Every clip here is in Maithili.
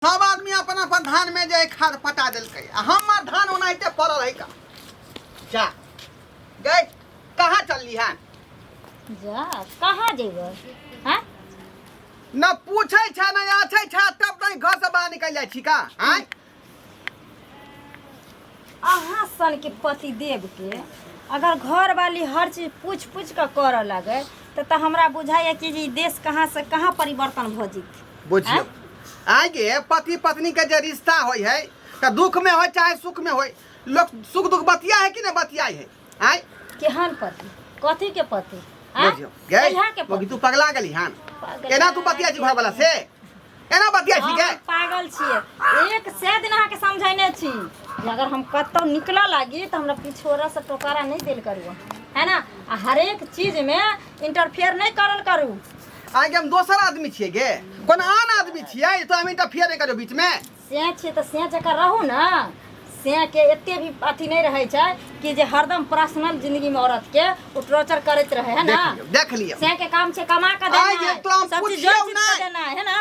सब आदमी अपन अपन धान में जे खाद पटा देलकै आ हमर धान ओनाहिते पड़ल है का जा गए कहाँ चलली है जा कहाँ जेबै हैं न पूछे छे न आछे छे तब तक घर से बाहर निकल जाए छी का आँय अहाँ सन के पति देव के अगर घर वाली हर चीज पूछ पूछ के करऽ लगे तो तो हमरा बुझाइए कि ई देश कहाँ से कहाँ परिवर्तन भ जीत बुझियो आगे पति पत्नी के जे रिश्ता होय है तो दुख में होय चाहे सुख में होय लोग सुख दुख बतिया है कि नहीं बतियाई है आय केहन पति कथी के पति आँय? बुझियो गई कहिया के मौगी पति तू पगला गेली हन पगला एना तू बतिया छी घर वाला से एना बतिया छी हम के पागल छियै एक से दिन अहाँके समझैने छी जे अगर हम कतौ निकलऽ लागी तऽ हमरा पिछोड़ा से टोकारा नहि देल करू है ना आ हरेक चीजमे इंटरफेयर नहि करल करू आगे हम दोसर आदमी छियै गे कोन आन आदमी छियै तो हम इंटरफियर नहीं करियो बीच में सैँ छियै तऽ सैँ जकाँ रहू ने सैँके एते भी अथी नहि रहै छै कि जे हरदम पर्सनल जिंदगीमे औरतके ओ टॉर्चर करैत रहै है ना देख लिअ देख लिअ सैँके काम छै कमा कऽ आइ देना जे तो हम सब चीज पुछियौ जोड़ चित कऽ नहि। देना है ना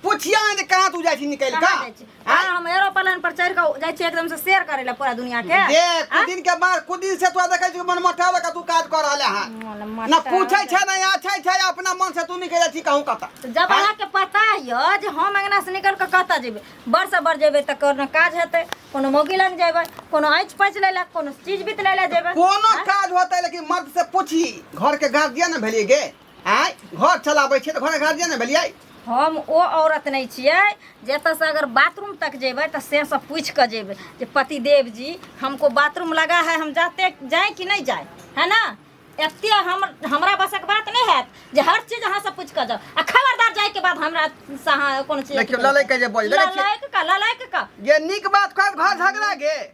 पुछिया ने जे कहाँ तू जाइ छी निकलि कहाँ कऽ जाइ छी? हाँ, हम एरोप्लेन पर चढ़ि कऽ जाइ छियै एकदम से शेयर करै लए पूरा दुनिया के जे कुछ दिन के बाद कुछ दिन से तोरा देखै छी मन मोटा लगा तू काज कर रहले हन मन मत ना पूछे छै ना आछे छै अपना मन से तू निकल जा छी कहूं कता तो जब अहाँ के पता य जे हम अंगना से निकल के कतऽ जेबै बड़ से बड़ जेबै तऽ कोनो काज हेतै कोनो मौगी लग जेबै कोनो आँच पैच लै लए कोनो चीज बीत लै लए जेबै कोनो काज होतै लेकिन मर्द से पूछी घर के गार्जियन न भेलिए गे आय घर चलाबै छै तऽ घर के गार्जियन न भेलिए हम ओ औरत नहि छियै जे एतऽसँ अगर बाथरूम तक जेबै तऽ से सब पूछि कऽ जेबै जे पतिदेव जी हमको बाथरूम लगा है हम जाते जाए कि नहि जाए है ना एते हम हमरा बसक बात नहि हैत जे हर चीज अहाँ सब पूछि कऽ जाउ आ खबरदार जाइके बाद हमरा से अहाँ कोनो चीज देखियौ, ललैके जे बजै, देखै छियै। ललैक का ललैक का ये निक बात कर घर झगड़ा गे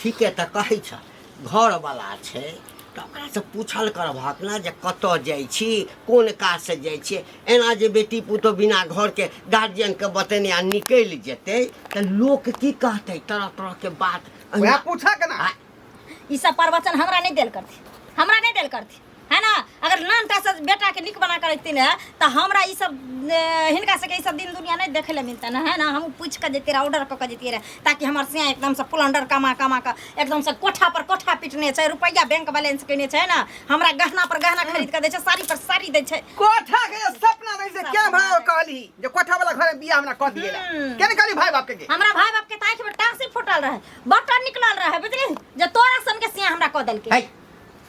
ठीके तऽ कहै छ घरवला छै तऽ ओकरासँ पूछल करबहक ने जे कतऽ जाइ छी कोन काजसँ जाइ छियै एना जे बेटी पुतहु बिना घरके गार्जियनके बतेने आ निकलि जेतै तऽ लोक की कहतै तरह तरहके बात वएह पूछा केना आ- ई सब प्रवचन हमरा नहीं देल करती हमरा नहीं देल करती है ना अगर नान का से बेटा के निक बना कर रखती ना तो हमरा ई सब ए, हिनका से ई सब दिन दुनिया नहीं देखे ले मिलता ना है ना हम पूछ कर देते रहे ऑर्डर कर कर देते रहे ताकि हमार से एकदम से पुलंडर कमा कमा कर एकदम से कोठा पर कोठा पीटने छै रुपया बैंक बैलेंस केने छै ना हमरा गहना पर गहना खरीद कर दे छै साड़ी पर साड़ी दे छै कोठा के जे सपना नहीं से क्या भाव कहली जे कोठा वाला घर में बियाह हमरा कह दिए हम्म। केने कहली भाई बाप के के? हमरा भाई बाप के ताख में टांसी फूटल रहे बटन निकलल रहे बुझली जे तोरा सन के सिया हमरा कह देलके है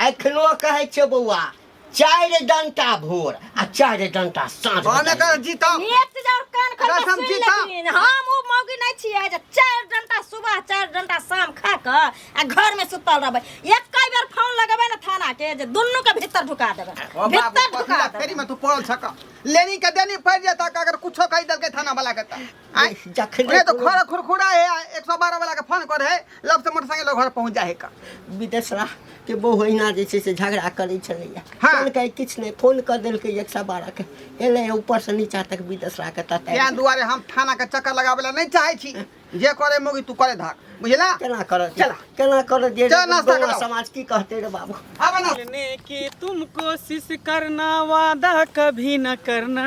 एखनो कहै छियौ बौआ चारि डंटा भोर आ चारि डंटा साँझ कौन बजाइए। कर जीता एक चीज और कान खोल कसम के सुन जीता। लेथिन हम उ मौगी नहीं छिए जे चार घंटा सुबह चार घंटा शाम खा के आ घर में सुतल रहबे एक कई बेर फोन लगेबे ना थाना के जे दुनू के भीतर ढुका देबे ओ बाबू भीतर ढुका पखला देबे फेरी में तू पड़ल छका लेनी के देनी पड़ जाता अगर कुछो कह देलकै थाना वाला के त आय जखने नहीं तो खोरा खुरखुरा है आ 112 वाला के फोन करे है लब से मोटरसाइकिल लग घर पहुंच जाए का विदेशरा के बहु अहिना जे छै से झगड़ा करै छलैया हाँ। फोन के किछु नहि फोन कऽ देलकै एक सए बारह के एलै ऊपर से नीचा तक विदेशरा के तताइ तें दुआरे हम थाना के चक्कर लगावे ला नहीं चाहे छी जे करे मोगी तू करे धाक बुझला केना करत चला। केना करत जे चल, नाश्ता गौवा कराओ। समाज की कहते रे बाबू आबे ना मिलने की तुम कोशिश करना वादा कभी न करना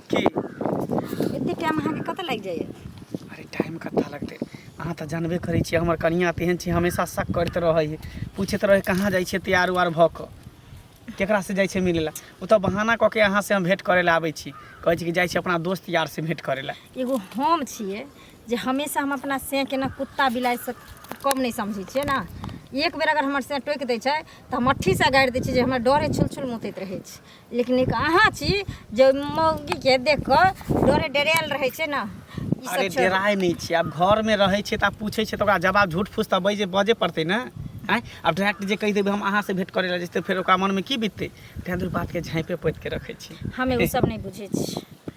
की एते टाइम अहाँके कतऽ लागि जाइए अरे टाइम कतऽ लगतै अहाँ तऽ जानबे करै छियै हमर कनिया तेहन छै हमेशा शक करैत रहै है पूछैत रहै कहाँ जाइ छियै तैयार उयार भऽ कऽ केकरासँ जाइ छियै मिलै लए ओ तऽ बहाना कऽ के अहाँसँ हम भेँट करै लए आबै छी कहै छी कि जाइ छी अपना दोस्त यारसँ भेँट करै लए एगो हम छियै जे हमेशा हम अपना सेंके ने कुत्ता बिलाइसँ कम नहि समझै छियै ने एक बेर अगर हमर सें टोकि दै छै तऽ हम मट्ठीसँ गाड़ि दै छियै जे हमरा डरे छुल छुल मुतैत रहै छै लेकिन एक अहाँ छी जे मौगी के देख कऽ डरे डरेल रहै छै ने ई सब अरे छोड़ डेराय नहीं छी अब घर में रहे छी त आप पूछे छी त ओकरा जवाब झूठ फूस त बजे बजे पड़ते ना आय अब डायरेक्ट जे कह देबे हम अहाँ से भेंट करे ला जैसे फिर ओकरा मन में की बीतते तें दूर बात के झांपे पोत के रखे छी हमे ओ सब नहि बुझै छी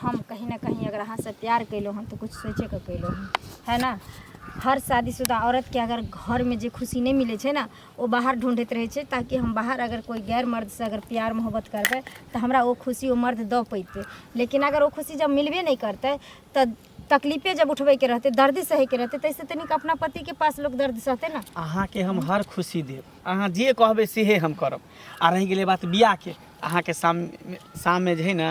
हम कहीं ने कहीं अगर अहाँसँ प्यार कयलहुँ हन तऽ किछु सोचिके कयलहुँ हन है ने हर शादीशुदा औरतके अगर घरमे जे खुशी नहि मिलय छै ने ओ बाहर ढूँढैत रहय छै ताकि हम बाहर अगर कोइ गैर मर्दसँ अगर प्यार मोहब्बत करबय तऽ हमरा ओ खुशी ओ मर्द दऽ पइतय लेकिन अगर ओ खुशी जब मिलबे नहि करतय तऽ तकलीफे जब उठबयके रहतय दर्दे सहयके रहतय तैसँ तऽ नीक अपना पतिके पास लोक दर्द सहतय ने अहाँके हम हर खुशी देब अहाँ जे कहबै सेहे हम करब आओर रहि गेलै बात बियाहके अहाँके सामने सामने जे हइ ने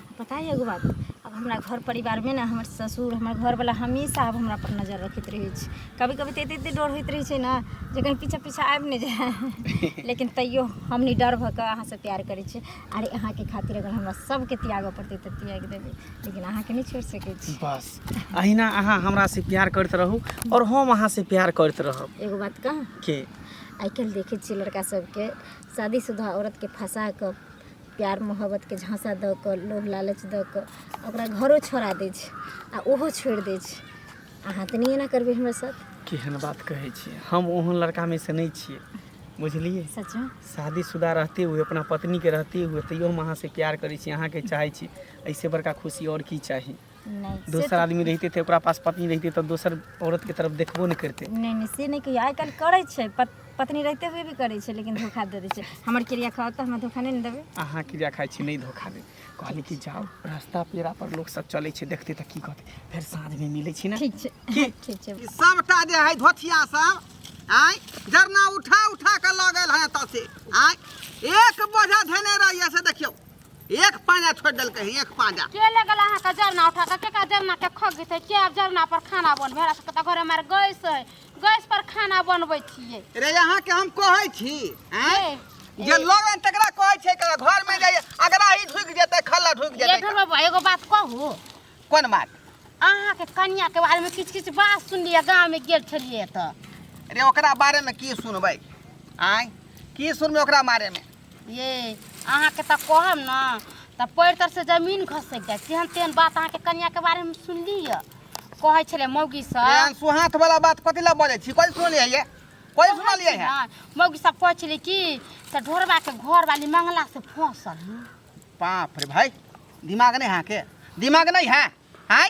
पता यऽ एगो बात आब हमरा घर परिवारमे ने हमर ससुर हमर घरवला हमेशा आब हमरापर नजर रखैत रहै छै कभी कभी तऽ एते एते डर होइत रहै छै ने जे कहीं पीछा पीछा आबि नहि जाए लेकिन तैयो हम नहि डर भऽ कऽ अहाँसँ प्यार करै छी अरे अहाँके खातिर अगर हमरा सबके त्यागऽ पड़तै तऽ त्याग देबै लेकिन अहाँके नहि छोड़ि सकै छी बस अहिना अहाँ हमरा से प्यार करते रहू और हम अहाँ से प्यार करते रहब एगो बात कह के आइ काल्हि देखै छियै लड़का सबके शादीशुदा औरतके फंसा कऽ प्यार मोहब्बतके झाँसा दऽ कऽ लोभ लालच दऽ कऽ ओकरा घरो छोड़ा दै छै आ ओहो छोड़ि दै छै अहाँ तऽ नहि एना करबै हमरा साथ केहन बात कहै छियै हम ओहन लड़कामे से नहि छियै बुझलियै सचमे शादीशुदा रहते हुए अपना पत्नीके रहते हुए तैयो हम अहाँसँ प्यार करै छी अहाँके चाहै छी एहिसँ बड़का खुशी आओर की चाही नहि से दोसर तऽ- आदमी रहते थे ओकरा पास पत्नी रहते तो दोसर औरत के तरफ देखबो नहीं करते नहि नहि से नहि कहियो आइ काल्हि करै छै पत, पत्नी रहते हुए भी करै छै लेकिन धोखा दे दै छै हमर क्रिया खाओ तऽ हमरा धोखा नहि ने देबै अहाँ क्रिया खाइ छी नहीं धोखा दे कहली कि जाओ रास्ता पेड़ा पर लोग सब चले छै देखते तो की कहते फिर साँझ में मिले छी ना ठीक छै ठीक छै ई सबटा जे है धोथिया सब आय जरना उठा उठा के लऽ गेल है एतऽ से आय एक बोझा धेने रहिए से देखियौ एक पाजा छोड़ दल कहीं एक पाजा के ले गला हां का जरना उठा के का जरना के खग गई के अब जरना पर खाना बन भेरा से घर हमार गैस है गैस पर खाना बनबै छिए रे यहां के हम कहै छी हैं जे लोग तकरा कहै छै के घर में जाय अगरा ही ढुक जेते खल्ला ढुक जेते ये ढोल बाबा एगो बात कहू कोन बात अहां के कन्या के बारे में किछ किछ बात सुन लिया गांव में गेल छलिए त रे ओकरा बारे में की सुनबै आय की सुनबै ओकरा बारे में ये अहाँके तऽ कहब ने तऽ पैर तर से जमीन घसकि जाय तेहन तेहन बात अहाँके कनिया के बारे में सुनली है कहै छले मौगी सब एहन सुहाथ वाला बात कथी ला बजै छी कल सुनलियै ये कल सुनलियै है हाँ, मौगी सब कहै छले कि से ढोरबा के घर वाली मंगला से फंसल है। बाप रे भाई दिमाग नहीं है के दिमाग नहीं है हाय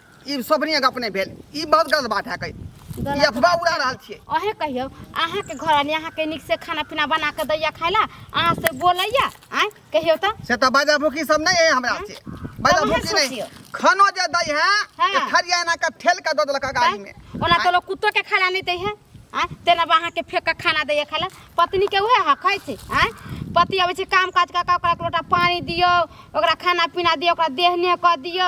ई सबनी गप नहि भेल ई बहुत गलत बात है कई ई अफवाह उड़ा रहल छियै अहे कहियो अहाँ के घर आनी अहाँ के नीक से खाना पीना बना के दैया खाय ला अहाँ से बोलैया आय कहियो त से तऽ बाजा भूखी सब नहि है हमरा से बाजा तब अहाँ भूखी नहि सोचियौ। खानो जे दै है हाँ। तऽ थरिया एना के ठेल के दऽ देलक गाड़ी में ओना तो लोग कुत्तो के खाना नहीं दै है आय तेना बा अहाँ के फेंक के खाना दैया खाय ला पत्नी के उहे हक है छै आय पति अबै छै काम काज कऽ के ओकरा एक लोटा पानी दियौ ओकरा खाना पीना दियौ ओकरा देहने कऽ दियौ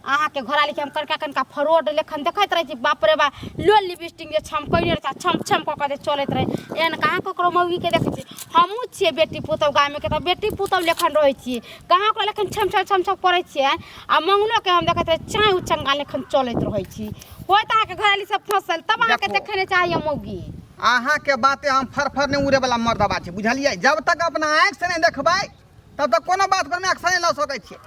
अहाँके घोड़ा लिखी हम कनिका कनिका फ्रॉड लेखन देखैत रहै छी बाप रे बा लो लिपस्टिक जे छमकैने रहै छम छम कऽ कऽ जे चलैत रहै एहन कहाँ ककरो मौगीके देखै छी हमहूँ छियै बेटी पुतहु गामेके तऽ बेटी पुतहु लेखन रहै छियै कहाँ ओकरा लेखन छम छम छम छम करै छियै आ मङ्गनोके हम देखैत रहै चाँय उचङ्गा लेखन चलैत रहै छी होइत अहाँके घराली सब फँसल तब अहाँके देखू। देखै नहि चाहिए मौगी अहाँके बाते हम फरफर नहि उड़ेवला मर्दबा छै बुझलियै जब तक अपना आँखिसँ नहि देखबै तब तऽ कोनो बात पर मायके सही लऽ सकै छियै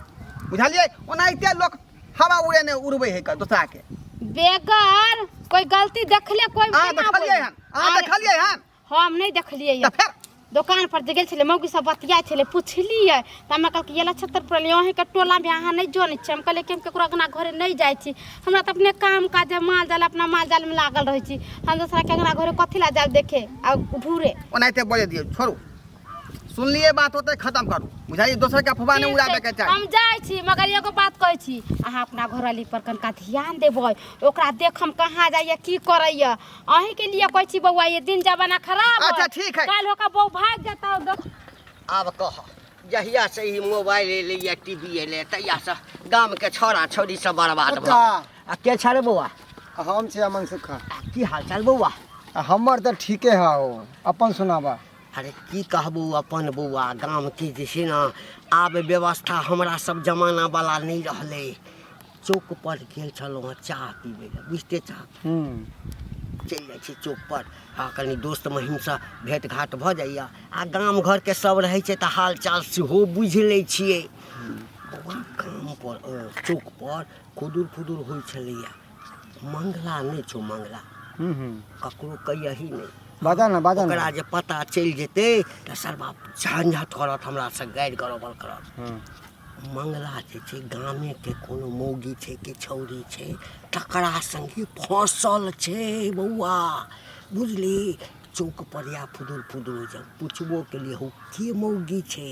बुझलियै ओनाहिते लोक हवा उड़े ने उड़बै है क- दोसरा के बेगर कोई गलती देखले कोई अहाँ केना देखलियै बोली? हन अहाँ अरे, देखलियै हन हम नहीं देखलिए तऽ फेर दुकान पर जे गेल छलै मौगी सब बतियाइ छलै पुछलियै तऽ हमरा कहलकै ये नक्षत्र पर लियो अहीं के टोला में अहाँ नहीं जानै छियै हम कहलियै कि हम केकरो अंगना घरे नहीं जाइ छी हमरा तऽ अपने काम काज माल जाल अपना माल जाल में लागल रहै छी हम दोसरा के अंगना घरे कथी ला जाब देखे आ घूरे ओनाहिते बोले दियौ छोड़ू सुनलिए बात होते खत्म करू बुझाई दोसर के अफवाह नहीं उड़ाबे के चाही हम जाय छी मगर एगो बात कहै छी अहाँ अपना घरवाली पर कनका ध्यान देबै ओकरा देख हम कहाँ जाइए की करैए अहीं के लिए कहै छी बौआ ये दिन जमाना खराब है। अच्छा, ठीक है। काल्हि ओकर बहू भाग जेतौ देख आब कह जहिया से ई मोबाइल एलै या टीवी एलै तहिया से गाम के छोरा छोरी सब बर्बाद भऽ ओता गेल। आ के छाड़े बौआ हम छी अमन सुखा की हाल चाल बौआ आ हमर तऽ ठीके हौ अपन सुनाबा अरे की कहबू अपन बौआ गामके जे छै ने आब व्यवस्था हमरा सब जमाना वाला नहि रहलै चौक पर गेल छलहुँ हँ चाह पीबै लए बुझते चाह चलि जाइ छी चौक पर आ कनि दोस्त महीमसँ भेंट घाट भऽ जाइए आ गाम घरके सब रहै छै तऽ हाल चाल सेहो बुझि लै छियै बौआ गाम पर अ, चौक पर खुदुर खुदुर होइ छलैया मंगला नहि छौ मंगला हूँ हूँ ककरो कहियही नहि बाजा ना बाजा ना ओकरा जे पता चलि जेतै तऽ सरबा झंझट करत हमरा से गारि गरोबल करत हँ मंगला जे छै गामे के कोनो मौगी छै कि छौरी छै तकरा संगे फसल छै बौआ बुझली चौक पर या फुदुर फुदुर जब पुछबो केलियै हौ के मौगी छै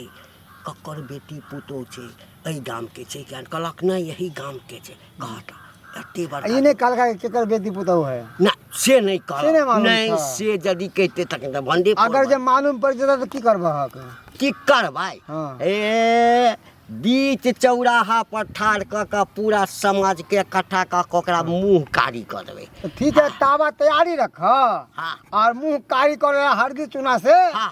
ककर बेटी पुतोह छै एहि गाम के छै किया कहलक नहि यही गाम के छै कहता एते बड़ ई नहि कहलका कि केकर बेटी पुतोह है ना से नहीं से कहल नहीं मालूम नहीं था। से यदि कहते तखन तऽ भंडे अगर जे मालूम पड़ जेता तऽ की करबह हक की करबै हाँ। ए बीच चौराहा पर ठाढ़ कऽ कऽ पूरा समाज के इकट्ठा कऽ कऽ ओकरा मुंह कारी कऽ देबै तऽ ठीक है तावा तैयारी रखह हाँ और मुंह कारी कर हरदी चूना से हाँ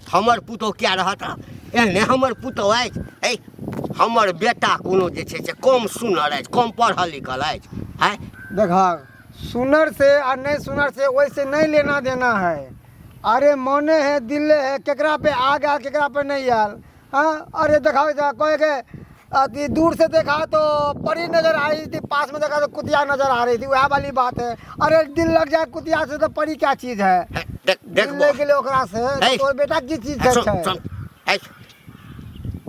हमर पुतहु किया रहत एहने हमर पुतहु अछि ऐ हमर बेटा कोनो जे छै से कम सुनर अछि कम पढ़ल लिखल अछि आँय देखा सुनर से आ नहीं सुनर से वैसे नहीं लेना देना है अरे मने है दिले है केकरा पे आ गया केकरा पे नहीं आयल हाँ अरे देखाओ इधर कोई के अथी दूर से देखा तो परी नजर आ रही थी पास में देखा तो कुतिया नजर आ रही थी वह वाली बात है अरे दिल लग जाए कुतिया से तो परी क्या चीज है है, देख देख दिल बो लग गेले ओकरा से है। तोर बेटा की चीज है, सुन छै सुन है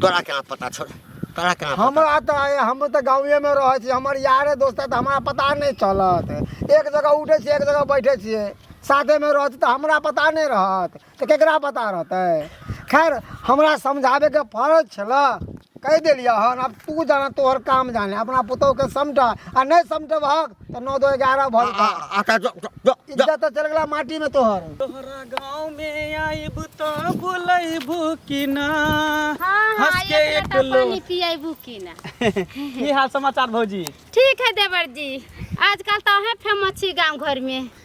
तोरा केना पता छोड़ तोरा केना पता हमरा तो आए हम तो गाँवे में रहे छी हमर यारे दोस्त है तो हमरा पता नहीं चलत एक जगह उठे छियै एक जगह बैठे छियै साथे में रहत तो हमरा पता नहीं रहत तऽ केकरा पता रहतै खैर हमरा समझाबैके फरज छलऽ कहि देलियै हन आब तू जाना तोहर काम जाने अपना पुतहुके समझ आ नहि समझबहक तऽ नौ दो एगारह भऽ जेतौ आका जो जो जो इज्जत तऽ चलि गेला माटीमे तोहर तोहरा गाँव में आइब तो बुलैबू कि ना हाँ हाँ हंस के एक एक लोटा लो- पानी पिएबू की ना की हाल समाचार भौजी ठीक है देवर जी आजकल तो अहें फेमस छी गांव घर में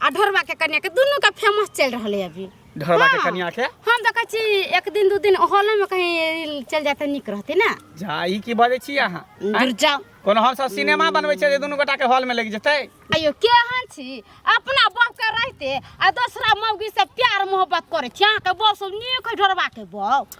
आ ढोरबा के कन्या के दुनू के फेमस चल रहल है अभी ढोरबा के हाँ। कन्या के हम देखै छी एक दिन दू दिन हॉलो में कहीं चल जाते निक रहते ना जा ई की बजै छी अहाँ दूर जाओ कोनो हम सब सिनेमा बनबै छै जे दुनू गोटा के हॉल में लागि जेतै अयो केहन छी अपना बाप के रहते आ दोसरा मौगी से प्यार मोहब्बत करे छी अहाँ के बाप सब नीक है ढोरबा के बाप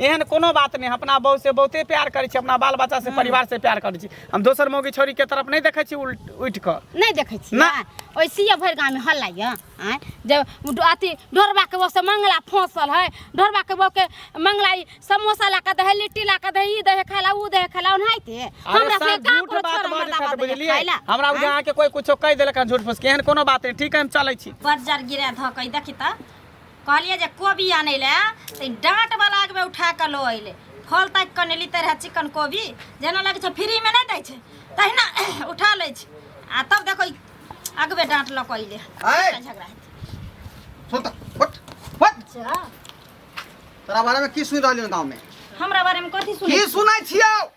एहन कोनो बात नहि अपना बहू से बहुते प्यार करै छी अपना बाल बच्चा से परिवार से प्यार करै छी हम दोसर मौगी छोरी के तरफ नहि देखै छी उल्ट उठि कऽ नहि देखै छी ना। ओइसिए भरि गाँवमे हल्ला यऽ आँय जब उ डो- अथी ढोरबाके बहुसँ मंगला फँसल है ढोरबाके बहुके मंगला ई समोसा ला कऽ दे है लिट्टी ला कऽ दे है ई दे है खाय ला उ दे है खाय ला ओनाहिते अरे हमरा सर, से का झूठ कोनो बात छोरा बाजै मर्दा छथि, बात बुझलियै? खाय ला हमरा आँय? गाँव के कोई कुछो कहि देलक हन झूठ फूस के एहन कोनो बात नहि ठीक है हम चलै छी बर्जर गिरा धऽ कऽ ई देखी तऽ कहलिए जे कोबी आनै लए तऽ डाँटवला आगमे उठा कऽ लऽ अयलै फल ताकि कऽ नेली तऽ रहै चिकन कोबी जेना लगै छै फ्रीमे नहि दै छै तहिना उठा लै छै आ तब देखो अगबे डाँट लऽ कऽ अयलै झगड़ा अच्छा। तोरा बारेमे की सुनि रहलियै गाँवमे हमरा बारेमे कथी सुनै की सुनै छियौ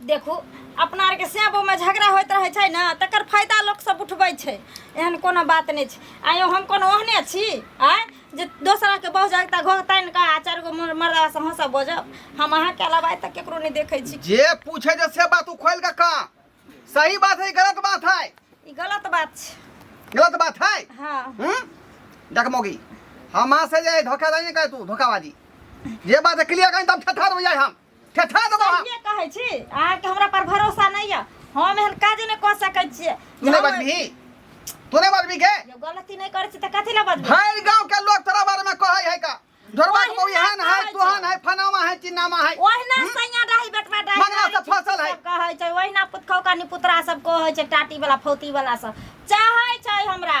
देखू अपना आरके सैबोमे झगड़ा होइत रहै छै ने तकर फायदा लोकसभ उठबै छै एहन कोनो बात नहि छै आइयो हम कोनो ओहने छी आँय जे दोसराके बहुत जागता घोघ तानि कऽ आ चारि गो मर्दासँ हमसभ बजब हम अहाँके अलावा आइ तक केकरो नहि देखै छी जे पूछे जे से बात उखोल के का सही बात है गलत बात है ई गलत बात छै गलत बात है हँ हम्म? देख मोगी हमा से जे धोखाबाजी नहीं करे तू धोखाबाजी ये बात क्लियर कहीं तब ठठार हो जाए हम कथा दो बाबा ये कहै छी अहाँ के हमरा पर भरोसा नहीं है हम एहन काज नहीं क सकै छियै तू नहीं बजबी तू नहीं बजबी के जब गलती नहीं करै छी त कथि ला बजबै भर गांव के लोग तोरा बारे में कहै है का ढोरवा के बहू एहन है तोहन है फनामा है चिन्नामा है ओहिना सैया डाही बेटवा डाही मंगला से फसल है। कहै छै ओहिना पुतखौका नि पुतरा सब कहै छै टाटी वाला फौती वाला सब चाहै छै हमरा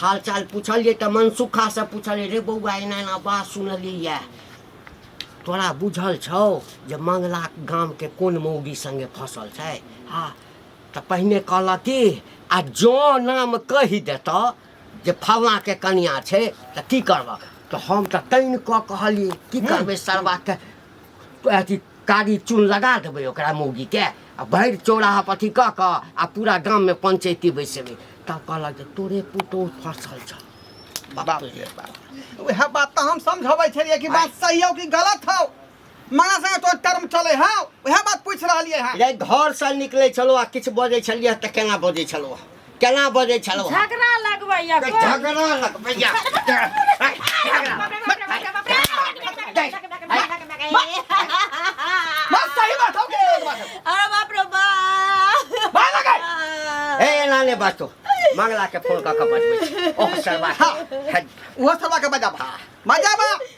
हाल चाल पूछलिए तऽ मनसुखा से पूछलिए रे बौआ एना एना बात सुनलिए तोरा बुझल छौ जे मंगला गाम के कोन मौगी संगे फसल छै हाँ तऽ पहिने कहलक कि आ जो नाम कहि देत जे फलना के कनिया छै तऽ की करबक तऽ हम तऽ तैन कऽ कहलिए की करबै सरबा के अथी कारी चून लगा देबै ओकरा मौगीके आ भरि चौराहा पर अथी कऽ कऽ आ पूरा गाममे पंचैती बैसेबै तब कहलक जे तोरे पुतोह फँसल छौ बाप रे बाप उएह बात तऽ हम समझबै छलियै कि बात सही हौ कि गलत हौ माँ से तोर टर्म चले हौ उएह बात पूछ रहलियै हँ रे घरसँ निकलै छलौ आ किछु बजै छलियै तऽ केना बजै छलौ केना बजै छलौ झगड़ा लगबैया कोइ। झगड़ा लगबैया बस सही बात हो गई बात है। अरे बाप रे बाप बाहर लगा ए एना नै बाजतो मंगला के फोन क के बजबै ओह सरवा के। वो सब आके बजाबा बजाबा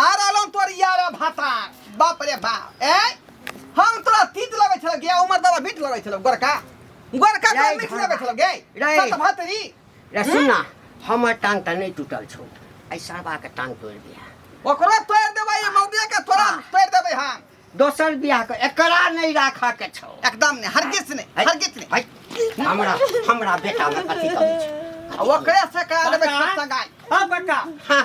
आ रहलो तोर यार भाता बाप रे बाप ए हम तोरा तीत लगे छल गे उमर दवा बीट लगे छल गोरका गोरका तो मीठ लगे छल गे सत भातरी रे सुन ना हमर टांग त नहीं टूटल छौ ऐ सरबा के टांग तोड़ दिया ओकरो तोड़ देबै ये मौदिया के थोड़ा हाँ। तोड़ देबै हम दोसर बियाह के एकरा नहीं राखा के छौ एकदम नहीं हर किस नहीं हर किस नहीं हमरा हमरा बेटा में कथि कमी छौ ओकरे से करा देबै सगाई हां बेटा हां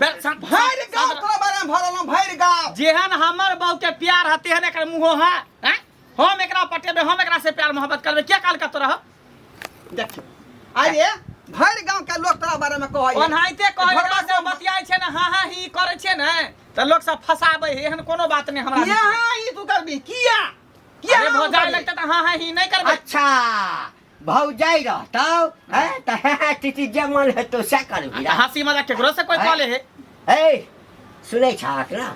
बेर सब भरि गाँव तोरा बारे में भरल हम भरि गाँव जेहन हमर बहू के प्यार है तेहन एकर मुँहो है हैं? हम एकरा पटेबे हम एकरा से प्यार मोहब्बत करबे के काल का तोरा देखियो अरे भरि गाँव के लोग तोरा बारे में कहै ओनाहिते कहै घरवा से बतियाइ छै ने हाँ हाँ ही करै छै ने तऽ लोक सब फसाबै है एहन कोनो बात नहि हमरा यहाँ ई तू करबी किया किया अरे हम भौजाइ करबी? लगतै तऽ हाँ हाँ ही नहि करबै अच्छा भौजाई रहतौ हैं त हे हे टीटी जे मन हेतौ से करबी रे। हंसी मजाक केकरो से कोई कॉले है हे सुनै छाक ना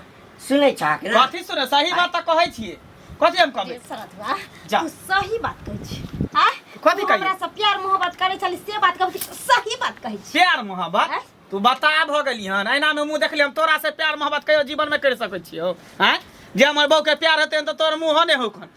सुनै छाक ना कथी सुने सही बात तऽ कहै छियै कथी हम कहबै सरधुआ जा। तू सही बात कहै छी आ कथी तू कहियै? हमरा से प्यार मोहब्बत करै छली से बात कहै छी सही बात कहै छी प्यार मोहब्बत हैं? तू बता भऽ गेली हन एना में मुंह देखली हम तोरा से प्यार मोहब्बत कहियो जीवन में कर सकै छियो हैं जे हमर बहू के प्यार हेतै तऽ तोर मुंह ने होखन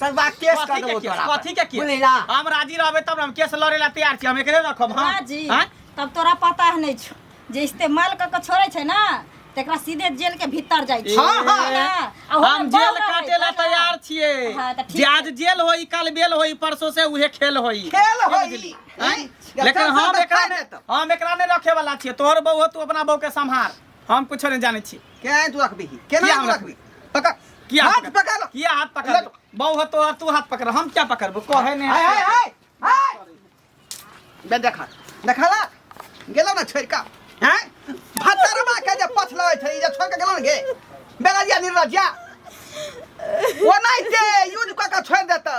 सरवा केस कथी कर के देबो केस? तोरा कथी के केस? बुझलिला हम राजी रहबे तब ने हम केस लड़े ला तैयार छी हम एकरे रखब हम राजी आँय? तब तोरा पता है नहीं छो जे इस्तेमाल क के छोड़े छै ना तेकरा सीधे जेल के भीतर जाय छै हाँ, हाँ। है ना? आ ओकरा हम जेल बम रहै, काटे ला है ना? तैयार छिए हाँ, तऽ ठीक जे आज जेल होई काल बेल होई परसों से उहे खेल होई खेल होई आँय? लेकिन हम एकरा ने हम एकरा ने रखे वाला छिए तोहर बहू हो, तू अपना बहू के संभार हम कुछो नहीं जाने छी क्या है तू रखबी ही केना किया तू हमरा- रखबी पकड़ किया हाथ पकड़? पकड़ लो। किया हाथ पकड़ लो? बहु हो तो और तू हाथ पकड़ हम क्या पकड़बो कहे ने हाय हाय हाय हाय बे देखा देखा ला गेलो ना छोड़ का हैं भतरवा के जे पछला होय छै जे छोड़ के गेलो ना गे बेराजिया निर्लजिया ओ नहीं ते यूज क के छोड़ देतौ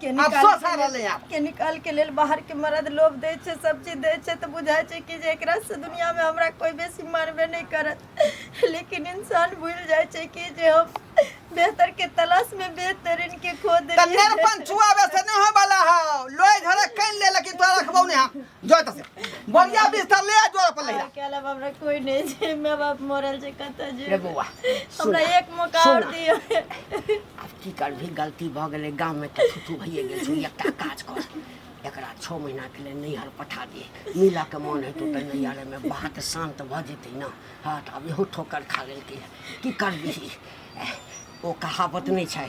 के आब निकाल सोझा के लेल- रहलै आब। के निकाल के लेल बाहर के मर्द लोभ दै छै सब चीज दै छै तऽ बुझाइ छै कि जे एकरा से दुनिया में हमरा कोई बेसी मानबे नहीं करत लेकिन इंसान भूल जाए छै कि जे हम बेहतर के तलाश में बेहतरीन के खो तऽ देलियै नेरपन छुआबे से नहि होय वाला हौ लोहि घरे कनि ले लेकिन तोरा रखबौ ने हम जो एतऽ से बढ़िया बिस्तर ले आ जोर पर ले आ। अकेला बाप रे कोई नहीं छै माय बाप मरल छै कत रे जे बौआ सुन हमरा एक मौका सुन। और दियो आब की करबही गलती भऽ गेलै गाममे तऽ छुट्टू भइए गेल छै एकटा काज कर एकरा छओ महीनाके लेल नैहर पठा दे मिलऽके मोन हेतौ तऽ नैहरमे बात शान्त भऽ जेतै ने हँ तऽ आब इहो ठोकर खा लेलकै की करबिही एह, ओ कहावत नहि छै